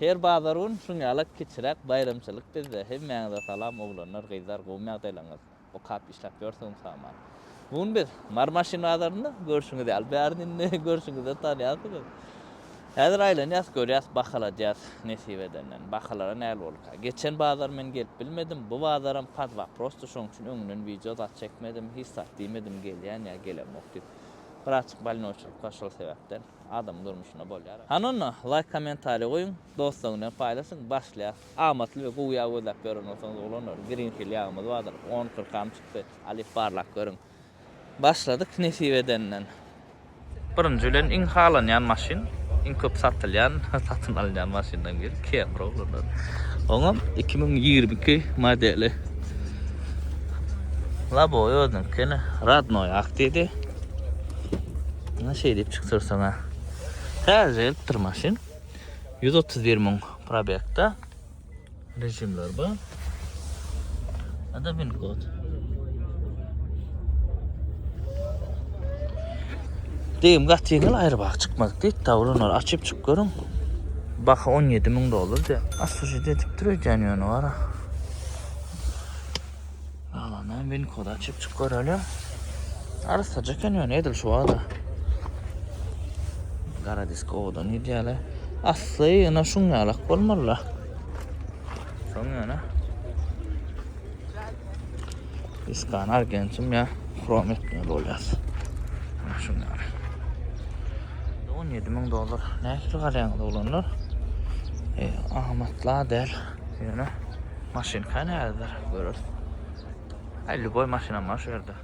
Her bazar gün şuň ýaly kiçiräk baýramçylyk bizde. Hemmäňize salam oglanlar, gyzlar gowymy ýagdaýlaryňyz? Okap işläp ýörsüňiz saman. Bu gün biz Mary maşyn bazarynda görşüňiz ýaly bärini indi görşüňizden tanýarsyňyz. Häzir aýlanýas görýäs bahaladýas nesip edenden. Bahalara näl bolka. Geçen bazar men gelip bilmedim. Bu bazaram pod waprosdy şoň üçin öňünden wideo zat çekmedim. Hiç zat diýmedim gelýän ýa gelemok diýip. Bir açyk balnoçylykda şol sebäpden. Adamyň durmuşynda bolýar. Hany onda laýk kommentariý goýuň, dostlar bilen paýlaşyň, başlaýas. Amatly we gowy ýag gözläp ýören bolsaňyz oglanlar, Green Hill ýagymyz bardyr, on kyrkam çykdy, alyp barlap görüň. Başladyk nesip edenden. Birinji bilen iň halanýan maşyn, iň köp satylýan, satyn alynýan maşynlaryň biri Camry oglanlar. Oňam iki müň ýigrimi iki modeli. Lobowy özüniňki ine, rodnoý aktiýdi. Ýa şeýdip çykdyrsaň-a. Täze gelipdir maşyn. 131 müň probekda. Rejimler bar. Ada bin kod. Deýim gaty ýeňil aýry bak çykmadyk diýip, tawrun ol açyp çyk görüň. Baha 17 müň dollar diýip. Asujy edip dur öýdýän ýöne wara. Galany winkoda açyp çyk görelim. Arsaja eken ýöne edil şu wada. Gara disk owadan ideýale. Asly ýöne şuň ýalak bolmaly. Şoň ýöne. Iskan argentum ya krom etmeli bolýas. Şuň ýaly. 17 ming dollar. Nähili garaýaňyz oglanlar? E, amatla däl. Ýöne maşynka nädedir göreris. Ay lüboy maşynam bar şu ýerde.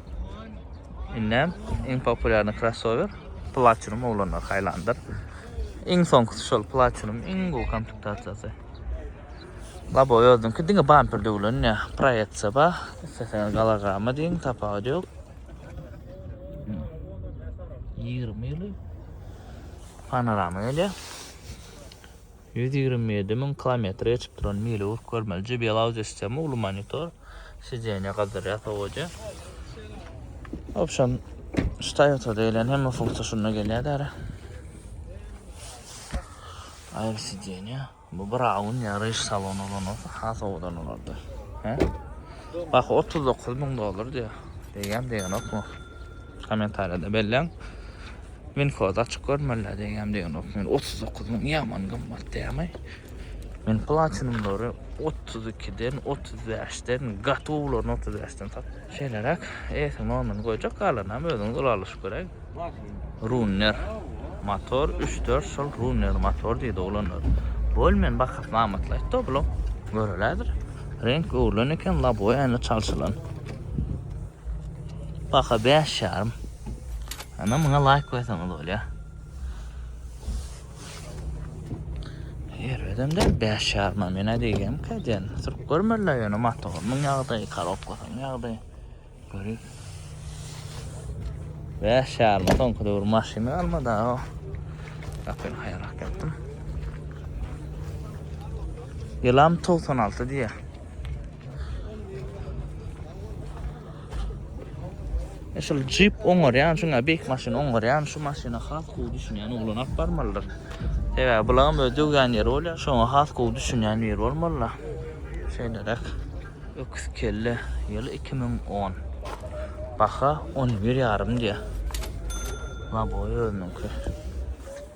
Indem iň populýarny krossower Platinum oglanlar haýlandyr. Iň soňkusy şol Platinum iň gowy komplektasýasy. Labo özüňki diňe bamper döwlen ýa proýeksiýa ba, isleseňiz galagama diýiň, tapawudy ýok. 20 ýyly panorama gelýär. Ýüz ýigrimi ýedi müň kilometr geçip duran mili urup görmeli JBL audio sistema uly monitor sidenýe gazdyrýar sowaja. Opşam şu Toyota diýlen hemme funksiýa şunda gelýär däre. Aýry sidenýe. Bu bir awun ýaryş salon ulan olsa has owadan bolardy. He? Bak 39 müň dollar diýär. Diýýän diýen okmu? Kommentariýada belläň. Winkoz açyk görmeliler diýýäm diýenok men otuz dokuz müň ýaman gymmat diýämi. Men platinumlary otuz ikiden otuz bäşden gatowlaryny otuz bäşden satdym. Şeýleräk eýesi normany goýjak galanam özüňiz ylalaşyp göräý. Runner motor üç dört şol runner motor diýdi oglanlar. Bol men bahasyny amatly aýtdy oglum. Görelädir. Reňk öwrülen eken laboýa ýaly çalşylan. Baha bäş ýarym. Ana muňa laýk goýsaňyz bolýar. Ýerden de bäş ýarym mena diýgem käden. Sürüp görmediler ýöne motorynyň ýagdaýy, korobkasynyň ýagdaýy. Görüp. Bäş ýarym soňky döwür maşyny almady o. Bakın haýrak etdim. Ýylam 96 diýýär. E, şul jip oňarýan şuňa beýik maşyn oňarýan şu maşyna has gowy düşünýän oglan alyp barmalydyr. Sebäbi bulam öz döwýän ýeri bolýar, şoňa has gowy düşünýän biri bolmalylar. Şeýleräk. Öküz kelle ýyly 2010. Baha 11 ýarym diýýär. Laboý özüniňki.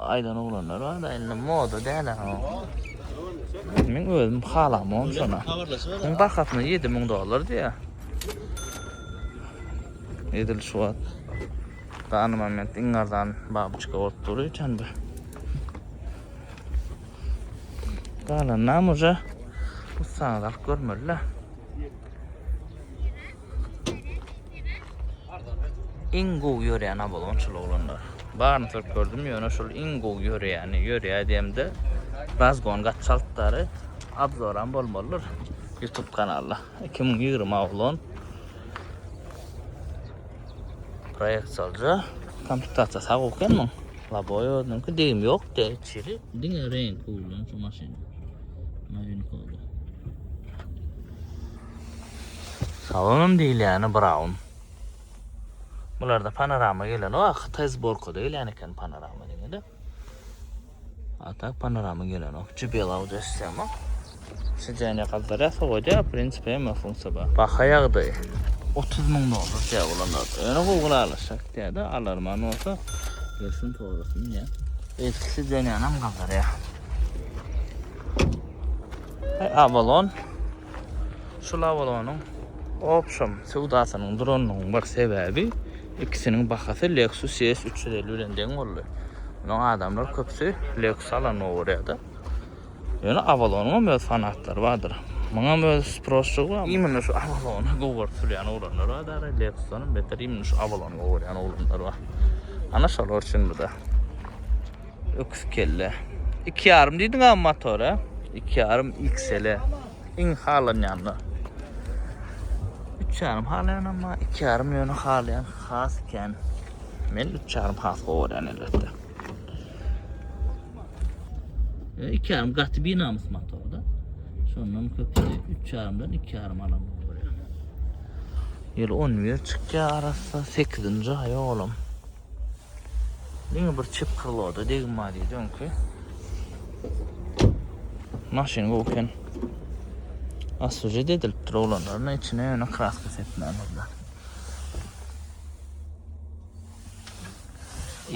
Aýdan oglanlar bar-da indi moda däl ha. Men özüm halamam şona. Muň bahasyna 7000 dollar diýýär. Edil şu wagt dany moment iň arzan babuçka bolup dur üçin bu. Galanam uja ussaňyz alyp görmeli-le. Iň gowy ýörýän abolon şul oglanlar. Baryny sürüp gördüm, ýöne şul iň gowy ýörýäni. Ýörýär diýemde, razgon gaty çaltdary. Abzoram bolmalydyr YouTube kanalda. 2020 abolon. Proýekt salja. Komplektasiýa sag oken muň. Laboy özüniňki degim ýok de içeri. Diňe reňki ulan şu maşyn. Maýyn kolda. Salonam diýilýäni braun. Bularda panorama gelenok. A hytaý zborkada gelýän eken panorama diňe-de. A tak panorama gelenok. JBL Audi S7. Sideniýa gazdyrýar, sowadýar, w prinsipi hemme funksiýa bar. Baha ýagdaýy. Otuz müň dollar diýýär bulanlar. Ýöne gowy gulalaşýar diýýär-de, alarman bolsa gelsin sorasyn diýýär. Eski sideniýanam gazdyrýar. Avalon. Şu lawalonyň opşam söwdasynyň duranynyň bir sebäbi ikisiniň bahasy Lexus ES üç ýüz elli bilen deň boldy. Munuň adamlar köpüsi Lexus alanyny gorýärdi. Ýöne Avalonyň hem öz fanatlary bardyr. Muňam öz sproşçygy bar. Imенно şu Avalony gowardy sürýän oglanlar bar dara, Lexusdan hem beter imенно şu Avalony gowarýan oglanlar bar. Ana şolar üçin bu-da. Öküz kelle. İki yarım diýdiň abi motora. İki yarım XL. Iň halanýanlar. Üç yarım halaýan ama iki yarım ýöne halaýan has kän. Men üç yarım has gowarýan elbetde. E, iki yarım gaty binamys motorda. Şondan köpüsi üç yarımdan iki yarım alan gowarýan. Ýyl 11 çykýar arassa 8-nji aý oglum. Diňe bir çep krloda degim bar diýdi öňki. Maşyn gowy eken. Asuje dedilip dur olanlaryna içine ýöne kraska sepmämizler.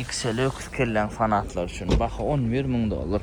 XL öküz kelläň fanatlar üçin baha 11 müň dollar.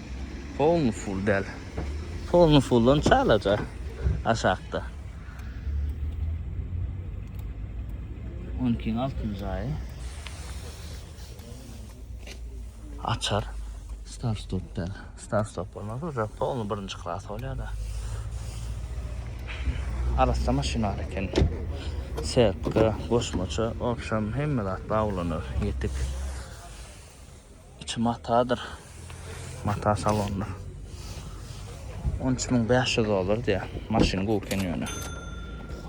Polny full däl. Polny fulldan çalaja aşakda. 12-iň altynjy aýy. Açar. Star stop däl. Star stop bolmaz. Uca polny birinci klas bolýar da. Arassa maşynar eken. Sertka, goşmaça, opşam hemme zat baglanar. Ýetik. Içi matadyr. Mata salondyr. 13500 dollar diýär. Maşyn gowy eken ýöne.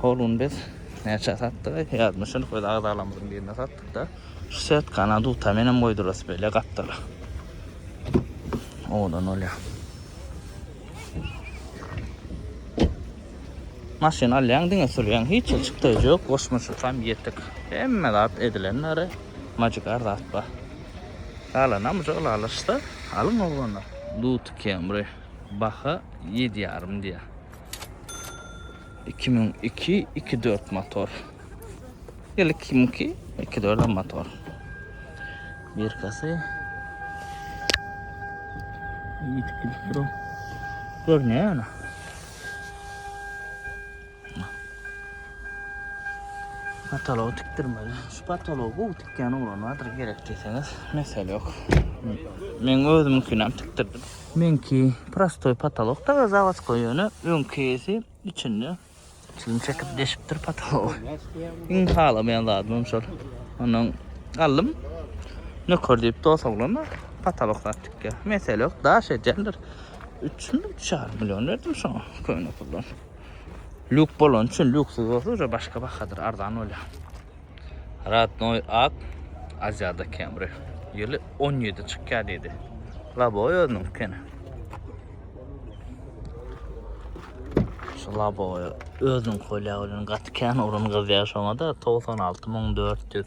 Hol gün biz näçe satdyk? Ýadmyşyn, öz agzalarymyzyň birine satdyk-da. Şu setkany duta menem goýdurasy bile gapdala. Owadan bolýar. Maşyn alýaň, diňe sürýäň, hiç çykdaýjy ýok, goşmaçasy hem ýetik. Hemme zat edilen nary. Magic ar zat bar. Ýaly namja ylalaşsa alyň oglanlar. Duty Camry baha ýedi ýarym diýýä. Iki müň iki, iki dört motor. Ýyl iki müň iki, iki dördem motor. Birkasy. Ýitip gidip dur. Görünýär ýöne. Patolog tikdirmeli. Şu patolog bu tikýän oglan bardyr gerek diýseňiz, mesele ýok. Men özümkini hem tikdirdim. Menki prostoý patolog da zawaç goýany, öňkisi içinde çilim çekip deşipdir patolog. Iň halamaýan zadym hem şol. Ondan galdym. Nöker diýip dos oglan bar. Patolog zat tikýär. Mesele ýok, daş edýändir. 3 mü, 3,5 million berdim şoňa köne puldan. Lük bolan üçin lüksyz bolsa uje başga bahadyr, arzan bolýar. Radnoy ak Aziýada Camry. Ýyly 17 çykýar diýdi. Laboy özüniň kene. Şu laboy özüniň kolýa bilen gaty kän orun gyzýar şoňa da 96400.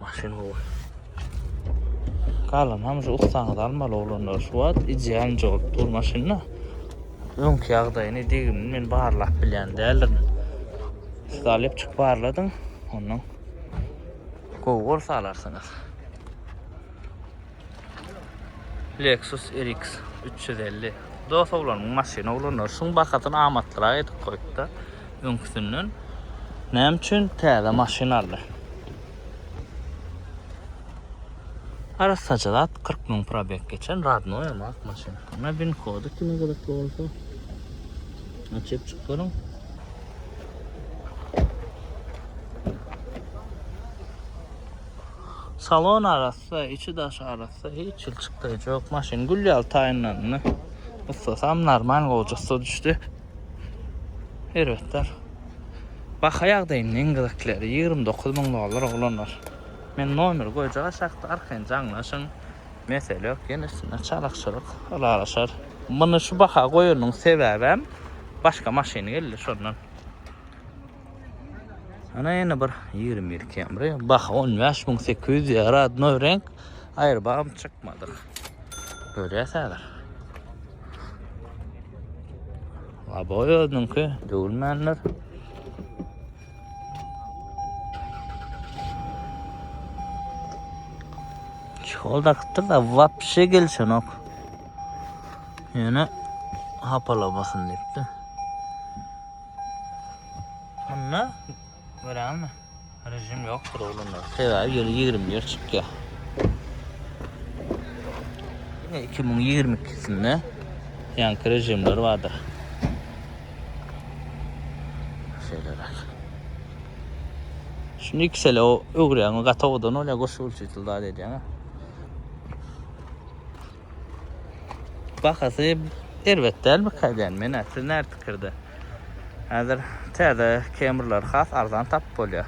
Maşyn gowy. Galan hem şu ussaňyz almaly oglanlar. Şu wagt ideal jogap dur maşynda. Öňki ýagdaýyny degimini men barlap bilýän däldirin. Siz alyp çyk barladyň. Ondan gowy bolsa alarsyňyz. Lexus RX 350. Dost oglanymyň maşyny oglanlar şuň bahasyny amatlyrak edip goýupda. Öňküsinden näme üçin täze maşyn aldy? Arassaja zat 40 müň probeg geçen radnoý ama ak maşyn. Ana bin kody kime gyzykly bolsa açyp çykdyryň. Salon arassa, içi daşy arassa, hiç hil çykdaýjy ýok. Maşyn gül ýaly taýynlandy. Ussasam normal goja ussa düşdi. Erbetler. Baha ýagdaýynyň iň gyzyklyry 29 müň dollar oglanlar. Men nomer goýjak aşakda arkaýyn jaňlaşyň. Mesele ýok, ýene üstüne çalykçylyk ylalaşar. Muny şu baha goýanyň sebäbem başga maşyny geldi şondan. Ana ýene bir 21 kemri. Bah 15800 ýa radnoý renk. Aýr bagym çykmadyk. Görýäs häzir. Laboý özüniňki döwülmänler. Şol dakypdyr da wapşe gelişenok. Ýöne hapalamasyn diýipdi. Munda görýäňmi? Rejim ýokdur oglanda. Sebäbi ýyl 20 ýer çykýar. 2022-sinde ýanky rejimler bardyr. Şeýleräk. Şuny iki sele öwrýäňmi? Gatowadan bolýar, goşa ölçeýtel zat edýäňä. Bahasy erbet däl bu källäni menä. Siz näme pikirde? Häzir täze kemrleri has arzan tapyp bolýar.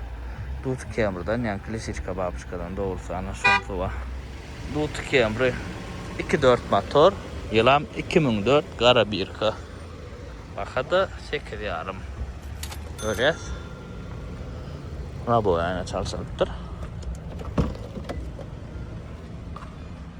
Duty kemrden, ýaňky lisiçka babyçkadan dogrusy ana şonsy bar. Duty kemri iki dört motor. Ýylam iki müň dört gara birka. Baha-da sekiz ýarym. Görýäs. Labowy aýna çalşylypdyr.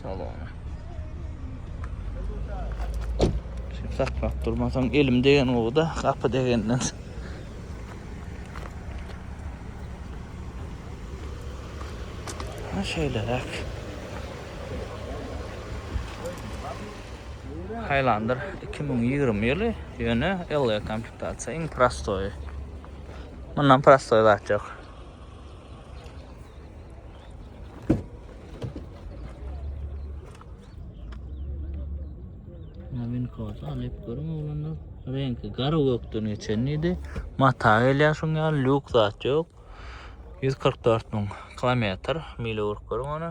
Salona. Sen saklap durmasaň elim degen gowy-da, gapy degenden. Ha şeýleräk. Highlander 2020 ýyly, ýöne LE komplektasiýa iň prostoýy. Mundan prostoý zat ýok. Winkoz alyp görüň oglanlar. Reňki gara gökden geçen idi. Mata gelýär şoň ýaly lýuk zat ýok. 144 müň kilometr mile görüň ony.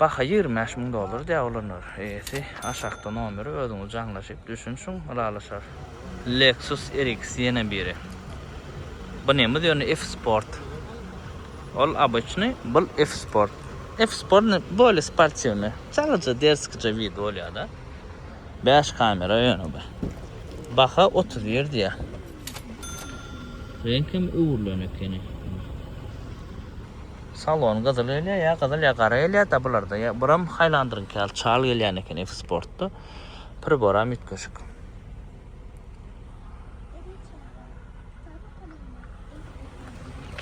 Baha ýigrimi bäş müň dollar diýýär olanlar. Eýesi aşakda nomeri özüňiz jaňlaşyp düşünşiň ylalaşar. Lexus RX ýene biri. Bu nemes ýöne F sport. Ol obyçnyý bul F sport. F sport ne bolye sportiwnyý. Çalaja derskija wid bolýada. Bäş kamera ýöne bu. Baha otuz bir diýýär. Reňk hem öwrülen ekeni. Salon gyzyl gelýär, ýa gyzyl, ýa gara gelýär-dä bularda. Ýa buram Highlander-iňki ýaly çal gelýän eken F-Sport-da. Priboram üýtgeşik.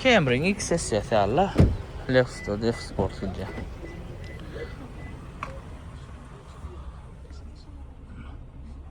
Camry-iň X-sessiýasy ýaly-la. Lexus-da F-Sport gidýär.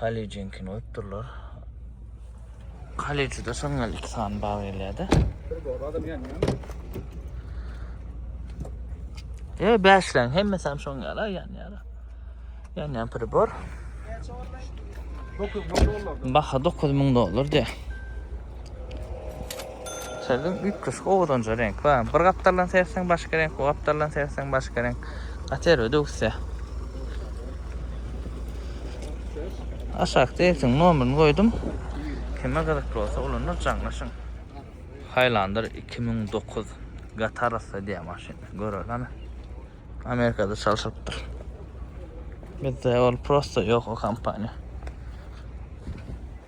Kollejininkini goýup durlar. Kollejde şoň ýaly iki sany bag gelýär-de. Bir bor, adam ýanýan. E, bäşleň hemmesi hem şoň ýaly ýanýar. Ýanýan pribor. Näçe olmaý? 9000 dollar. Baha 9000 dollar diýär. Şeýdip üýtgeşik owadanja reňk bar. Bir gapdaldan seretseň başga reňk, o gapdaldan seretseň başga reňk. Gaty erbet öwüsýä. Aşakda eýesiniň nomerini goýdum. Kime gyzykly bolsa olanlar jaňlaşyň. Highlander iki müň dokuz Gatarasda diýen maşyn. Görerleme. Amerikada çalşylypdyr. Bizde ol prosta ýok o kompaniýa.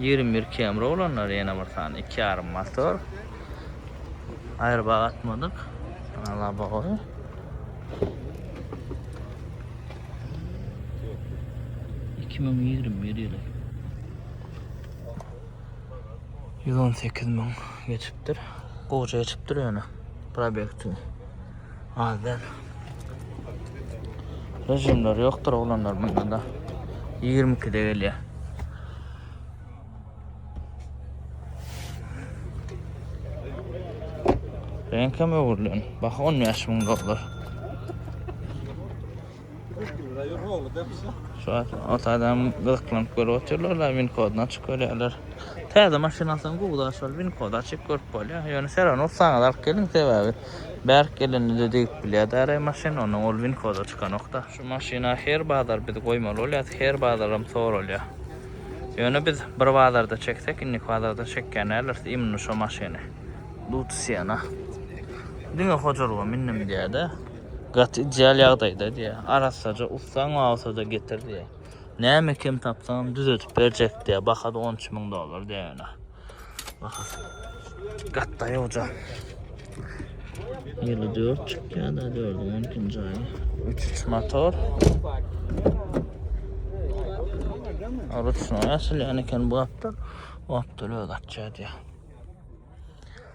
Ýigrimi bir Camry olanlar ýene bir sany iki ýarym motor. Aýrybagy atmadyk. Ala bagy. Iki müň ýigrimi bir ýyly. Ýüz on sekiz müň geçipdir. Goja geçipdir ýöne. Probekti. Az däl. Rejimler ýokdur oglanlar bunda da. 22-de gelýär. Reňkem öwrülen. Baha 15 müň dollar. Şu an ot adam gyzyklanyp görüp oturlar da win kodunu açyp görýärler. Täze maşyn alsaň gowy da şol win kodu açyp görüp bolýar. Ýöne seran ursaňyz alyp geliň sebäbi bärik gelende-de degip bilýär däreý maşyn ondan ol win kodu çykanokda. Şu maşyna her bazar biz goýmaly bolýas her bazaram soralýar. Ýöne biz bir bazarda çeksek indiki bazarda çekýän däldiris imni şo maşyny. Lutusiana. Diňe hojalyga mindim diýýärde. Gaty ideal ýagdaýda diýýär. Arassaja ussaň bolsa-da getir diýýär. Näme kem tapsaňam düzedip berjek diýýär. Baha-da on üç müň dollar diýýär ýöne. Bahasy. Gatda ýoja. Ýyly dört çykýar-da, dördüň on ikinji aýy. Üç üç motor. Ruçnoý açylýan eken bu gapdal. Bu gapdal öz açýar diýýär.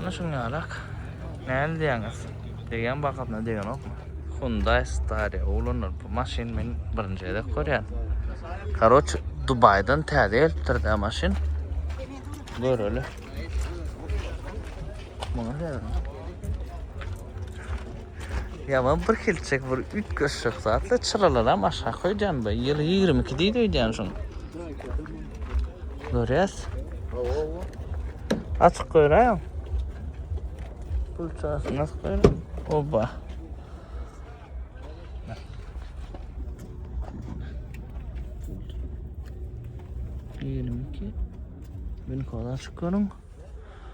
Ana şun yarak. Näli diýäňiz? Degen bakasyna degenokmy? Hyundai Staria ulanylýar bu maşyn men birinji gezek görýän. Karoç Dubaydan täze gelipdir da maşyn. Göreli. Muňa Ýaman bir hilçek bir üýtgeşik zatly çyralaram aşak goýdýan be ýyly ýigrimi iki diýdi öýdýän şuň. Görýäs. Açyk goýraýaň. Pul çarsy nasy goýraýaň. Oba. Ýigrimi iki. Bin kola açyk görüň.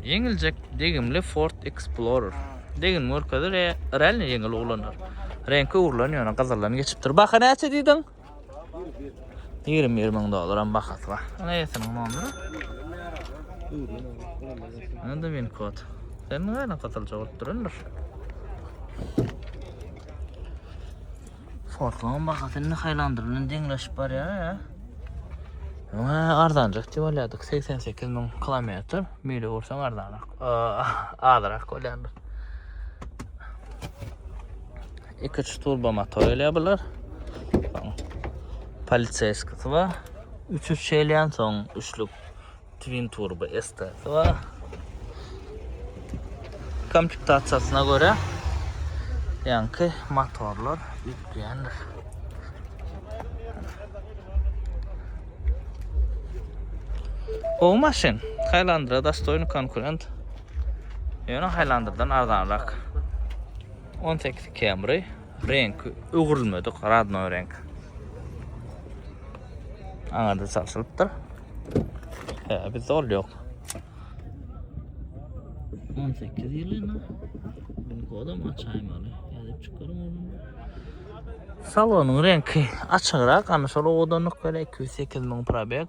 Ýeňiljek degimli Ford Explorer. Degin görkezir, e, realny ýeňil uglandyr. Reňki öwrülen ýöne gyzyldan geçipdir. Baha näçe diýdiň? Ýigrimi bir müň dollaram bahasy bar. Ony eýesiniň nomeri. Indi win kod. Sen näme gyzylja bolup durandyr? Fortlaň bahasy indi haýlandyrylan deňleşip barýar ýa. Öňe arzanjak diýip alýardyk 88 müň kilometr mili ursaň arzanrak azyrak bolýardy. 2-3 turbo motor gelýär bular. Poliseýskisi bar. 3-3 gelýän soň üçlük Twin Turbo STS bar. Komplektasiýasyna görä ýaňky motorlar ýüklenir. O maşyn Highlander dostoýny konkurent. Ýöne Highlanderdan arzanrak. 18 Camry Reňk öwrülmedik, radnoý reňk. Aňa-da çalşylypdyr. Hä, bir zol ýok. 18 ýylyna bu kodam açaýmaly. Ýazyp çykarym onu. Salonyň reňki açygyrak, ana şol owadanlyk bile 208 müň probeg.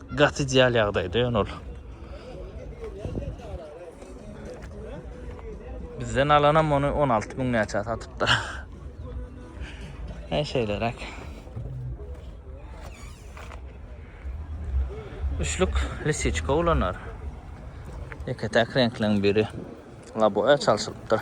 Gaty ideal ýagdaýda ýöne ol. Bizden alanam ony 16 müň näçä satypdyr. Näşe şeýleräk. Üçlük lisiçka ulanar. Ýeke-täk reňkleň biri laboýa çalşylypdyr.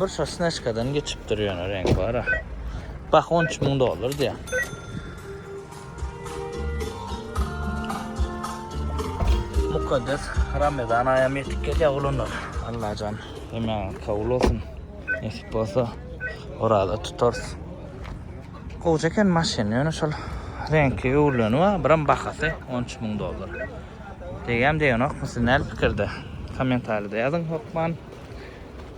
Bir sosnaşkadan geçipdir ýöne reňk bar. Bah 13 müň dollar diýýär. Mukaddes Ramazan aýam ýetip gelýär oglanlar. Allajan hemen kabul olsun. Nesip bolsa orada tutarys. Gowja eken maşyn, ýöne şol reňki öwrüleni bar, biram bahasy 13 müň dollar. Degýän degenokmy siz näl pikirde? Kommentariýada ýazyň hokman.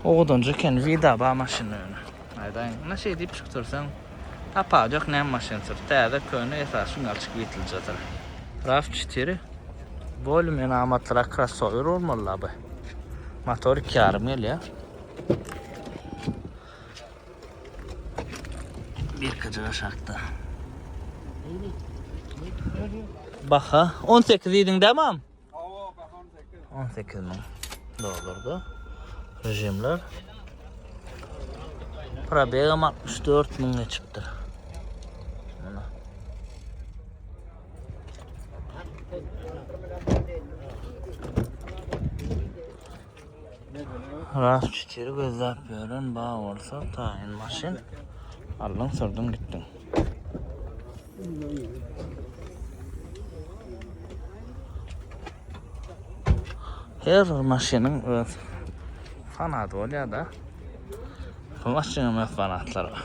Owadanjy eken wida ba maşyny öne aýdaýyň ine şeý diýip çykyp dursaň tapagy ýok näme maşyn sür täze köne esasy žurnalçik witldjadyr. Raw çetiri bolly men amatlyrak krassower bolmaly la by motor iki ýarym gelýä. Birkije gaşakda. Baha on sekiz diýdiň dä mam? On sekiz müň dollarda. Rejimler. Probegam 64 müň geçipdir. Ras çytyr gözläp ýören ba bolsa taýyn maşyn aldyň sürdiň gitdiň. Her bir maşynyň öz fanaty bolýar-da. Bu maşynyň öz fanatlary bar.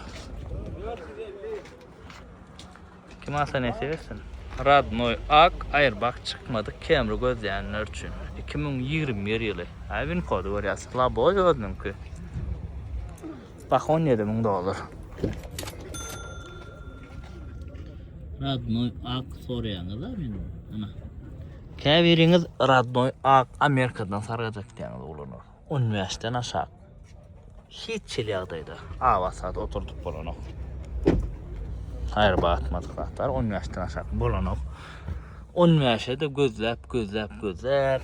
Kim alsa nesip etsin. Radnoy ak aýrbak çykmadyk kemri gözleýänler üçin iki müň ýigrimi bir ýyly aý win kody görýäs laboý özüniňki baha on ýedi müň dollar Radnoy ak soraýaňyz a meni ana käbiriňiz Radnoy ak Amerikadan sargajak diýýäňiz oglanlar On bäşden aşak hiç hili ýagdaýda awa saat oturdyp bolanok. Aýry batmadyk zatlar on bäşden aşak bolanok. On bäşe-de gözläp, gözläp, gözläp.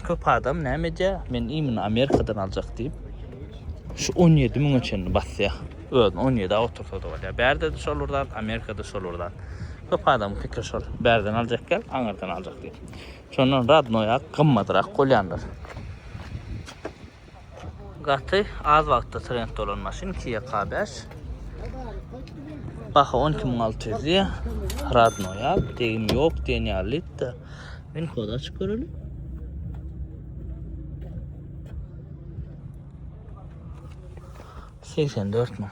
Köp adam näme edýär? Men imini Amerikadan aljak diýip, şu on ýedi müňe çenli basýar. Özüni on ýedi awa otursa-da bolýar. Bärde-de şol bir zat, Amerikada şol bir zat. Köp adamyň pikiri şol. Bärden aljak gel, aňyrdan aljak diýip. Şondan radnoýak gymmatrak bolýandyr. Gaty az wagtda trend bolan maşyn Kia K5. Baha 12600 diýýär. Radnoýak, degim ýok diýen ýalydy-da. Men kod açyp göreli. Seksen dört müň.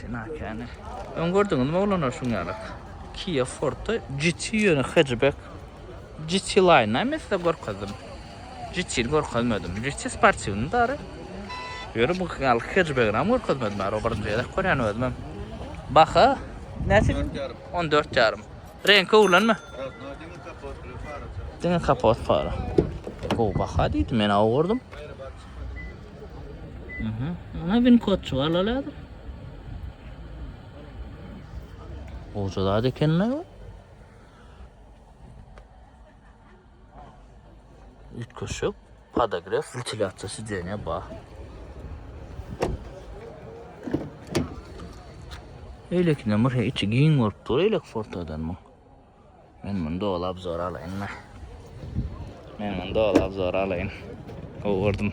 Sinakene. Ön gördüňiz mi oglanlar şuň ýaly? Kia Forte GT ýöne hatchback. GT Line näme size görkezdim. GT görkezmedim. GT sportiwny dary. Ýöne bu gal hatchback näme görkezmedim. Ara birinji gezek görýän özüm. Baha näçe? On dört ýarym. Reňki öwrenme. Diňe kapot para. Gowy baha diýdim, men aw gördüm. Aha, ana bin kotçu alalar. Oca da ekenler. Üýtgeşik podogref wentilýasiýa sideniýa bar. Eýlekinde bir içi giň bolup dur eýlek fortadan bu. Men muny doly obzor alaýyn da. Men muny doly obzor alaýyn. Gowurdym.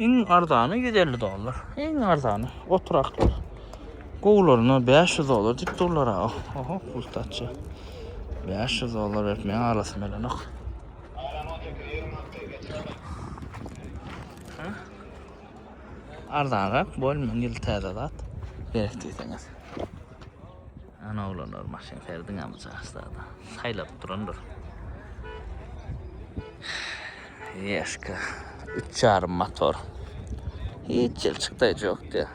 Iň arzany 150 dollar. Iň arzany oturaklar. Gowlaryna 500 dollar diýip durlar aga. Oho, pul taçy. 500 dollar berip men arasym elenok. Arzanrak bol men ýyl täze zat. Gerek diýseňiz. Ana oglanlar maşyn serdiňami çaşdada saýlap durandyr. Ýeşka 3,5 motor. Hiç ýel çykdaýjy ýokdy.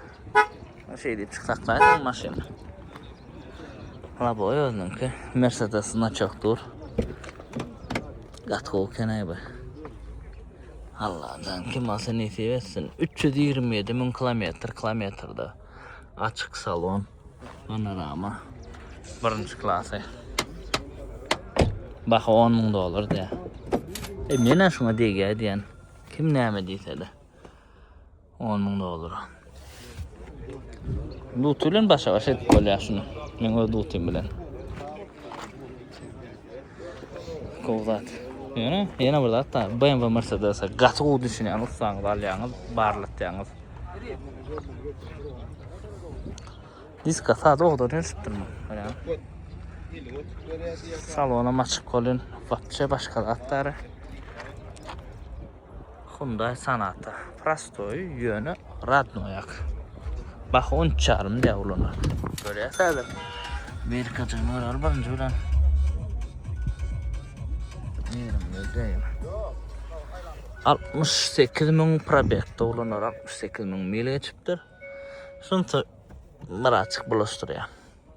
Şeý diýip çyksaklaýsaň maşyn. Laboy özüniňki Mercedes naçok dur. Gat gowy kenäý bu. Allah'dan kim olsa nesip etsin. 327 mün kilometr kilometrda. Açık salon. Panorama. Birinci klası. Baha 10 ming dolar diye. E mena şuna degýär diýen. Kim näme diýse de. 10 ming dolar. Lutulen başa başa edip bolýar şunu. Men öz lutum bilen. Gowy zat. Ýöne ýene bir zat da BMW Mercedes gaty gowy düşünýän ussaňyz alýaňyz, barlatýaňyz. Diska sad ogdan ýörşüpdir mi? Görýän. Salona maçyk bolýan. Wapçe başga zat dara. Hyundai Sonata. Prostoý, ýöne radnoýak. Baha on üç ýarym diýýär ulana. Görýäs häzir. Berkajygyny göreli birinji bilen. Ýerimde däl. 68 müň probekde ulanar, 68 müň mil geçipdir. Şunça Myratçyk bulaşdyrýar.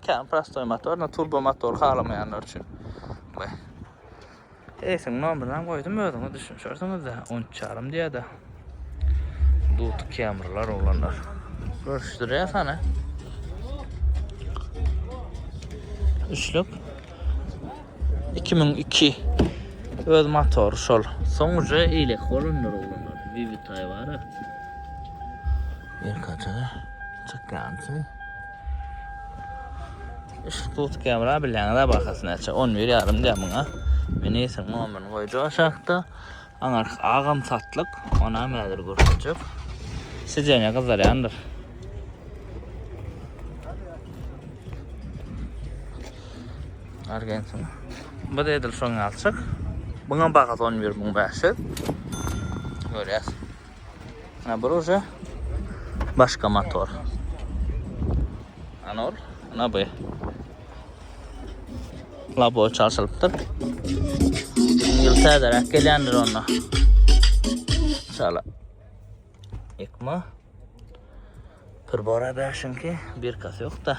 Kän prostoý motor, no turbo motor halamaýanlar üçin. Baý. Eýsiniň nomerini hem goýdum, özüňiz düşünişersiňiz-de, 13 ýarym diýýär-de. Duty Camry-lar oglanlar. Görüşdirýär sany. Üçlük. 2002 öz motory şol. Soň uje eýlek bolanlar oglanlar. Vivitay bar-a. Erkaça çykýançy. Işik tut kamera bileňiz bahasy näçe? 11 ýarym diýär muňa. Ministr nomerini goýjak aşakda. Aňar agam satlyk. Ona mädir görkezjek. Sideniýe gyzarýandyr. Argentin. Bu da edil şoň alçak. Buňa bahasy 11 muň 500. Görýäs. Bur uje başga motor. Anor, ana bu. Labo çalşylypdyr. Ýyl täzeräk gelýändir onda. Çala. Ekma. Pribora bäşinki bir kas ýok da.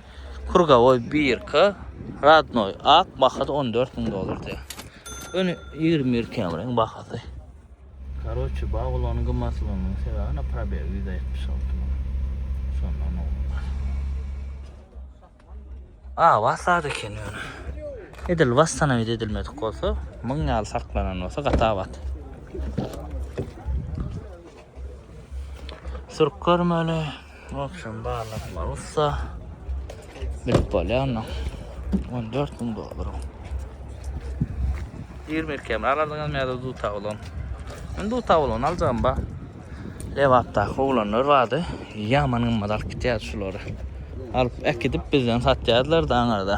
Kurgawoý birki, Radnoý ak, bahasy on dört müň dollar diýýär. Ýöne ýigrimi bir kemriň bahasy. Karoçi, bag ulanyň gymmatlygynyň sebäbi na probeg ýüz altmyş alty müň. Şondan owal. Awa sad eken ýöne. Edil wastanawid edilmedik bolsa, müň ýaly saklanan bolsa gaty abat. Sürüp görmeli. Wapşam barlaklar ussa. Bilip bolýandyň. 14 müň dollar. 20 kem alardyňyz mäde du tawlan. Men du tawlan aljam ba. Lewatda oglanlar vardy. Yaman gymmat alyp gitýärdi şulary. Alyp äkidip bizden satýardylar da aňarda.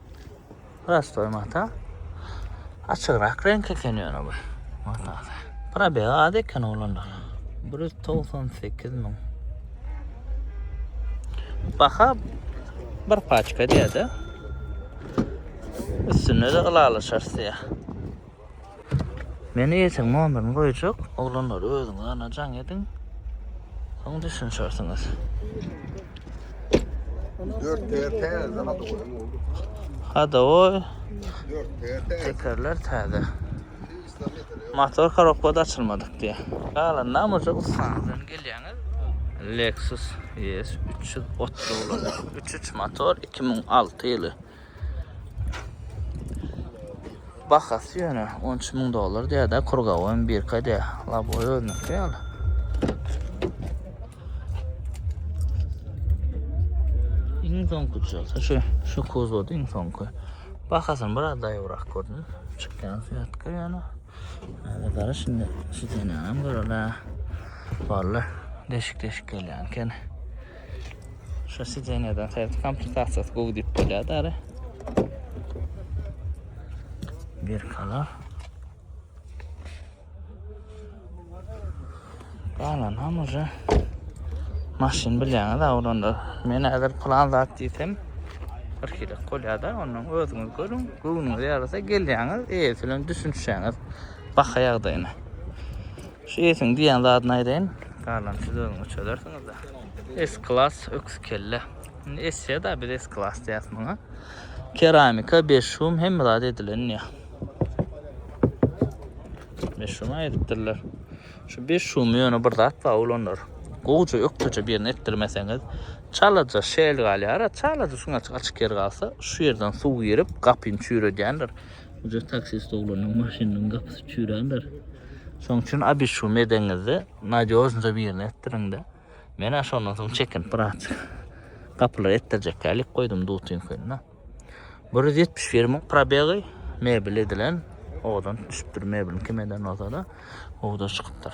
Prostoy mata. Açygrak renk eken ýöne bu. Mata. Probeg az eken oglanda. 198 min. Baha bir paçka diýýär-de. Üstünde de ylalaşarys diýýär. Men eýesiň nomerini goýjak, oglanlar özüňiz ana jaň ediň. Soň düşünişersiňiz. Dört teker täze zat olam oldu. Hada oy. Dört teker täze. Tekerler täze. Motor korobka da açylmadyk diye. Galan namurca ussanızdan gelýäňiz. Lexus ES 330 303 motor 2006 ýyly. Bahasy ýöne 13 müň dollar diýýär-de, kurgawy hem birka diýýär. Laboý özüniňki ýaly. Iň soňky bolsa şu şu kuzowda iň soňky. Bahasyny bir adaýybrak gördüm. Çykýan syýatka ýöne. Hada gara şimdi şu senäm görele. Walla deşik deşik gelýän eken. Şu sideneden serti komplikasiyası gowy dip bolýar dara. Bir kalar. Galan ham uca maşyn bilýäňiz da olanda. Men hazır plan zat diýsem bir kilo bolýar da ondan özüňiz görüň. Göwnüňiz ýarasa gelýäňiz, eýesi bilen düşünişýäňiz. Baka ýagdaýyna. Şu esiň diýýän zadyny aýdaýyn. Galany siz özüňiz çözersiňizda. S klas öküz kelle. Indi esýa da biz S klas diýýäs muňa. Keramika, beş şum hemme zat edilen diýýä. Beş şum aýdypdyrlar. Şu beş şumy ýöne bir zat bar oglanlar. Gowja ökdeje birini etdirmeseňiz, çalaja şel galýar. Çalaja şuň açyk açyk ýer galsa, şu ýerden suw girip, gapyny çüýredýändir. Uje taksist oglanyň maşynynyň gapysy çüýrändir. Şoň üçin abyşum edeňizde nadýožnyda birini etdiriň-de. Men-ä şondan soň çekinip biraz gapylary etdirjekkä ilik goýdum dutiňkini-de. Bir ýüz ýetmiş bir müň probegy, mebel edilen, owadan düşüpdir, mebeliň kim eden bolsa-da, owadan çykypdyr.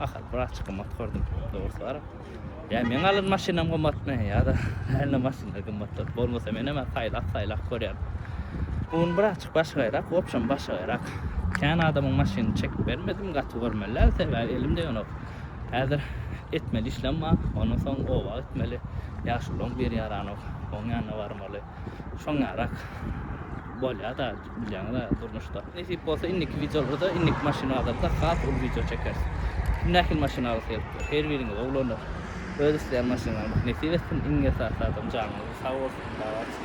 Ahal biraz gymmat gördüm dogrusu barip. Ya men alan maşynam gymmatmy ya da hälde maşynlar gymmatdyr. Bolmasa men hemen saýlap saýlap görýän. Bun biraz başgaýrak, opşam başgaýrak. Kän adamyň maşynyny çekip bermedim, gaty görmeliler sebäbi elimde ýonok. Häzir etmeli işlem bar. Ondan soň oba gitmeli. Ýaşulyň bir ýaranok. Oň ýanyna barmaly. Şoň ýarak bolýar da. Bilýäňiz-ä durmuşda. Nesip bolsa indiki wideolarda indiki maşyn bazarda has uly wideo çekeris. Nähili maşyn alasy gelipdir? Her biriňiz oglanlar öz isleýän maşynlaryňyzy nesip etsin. Iň esasy zadam janyňyz sag bolsun. Salamat.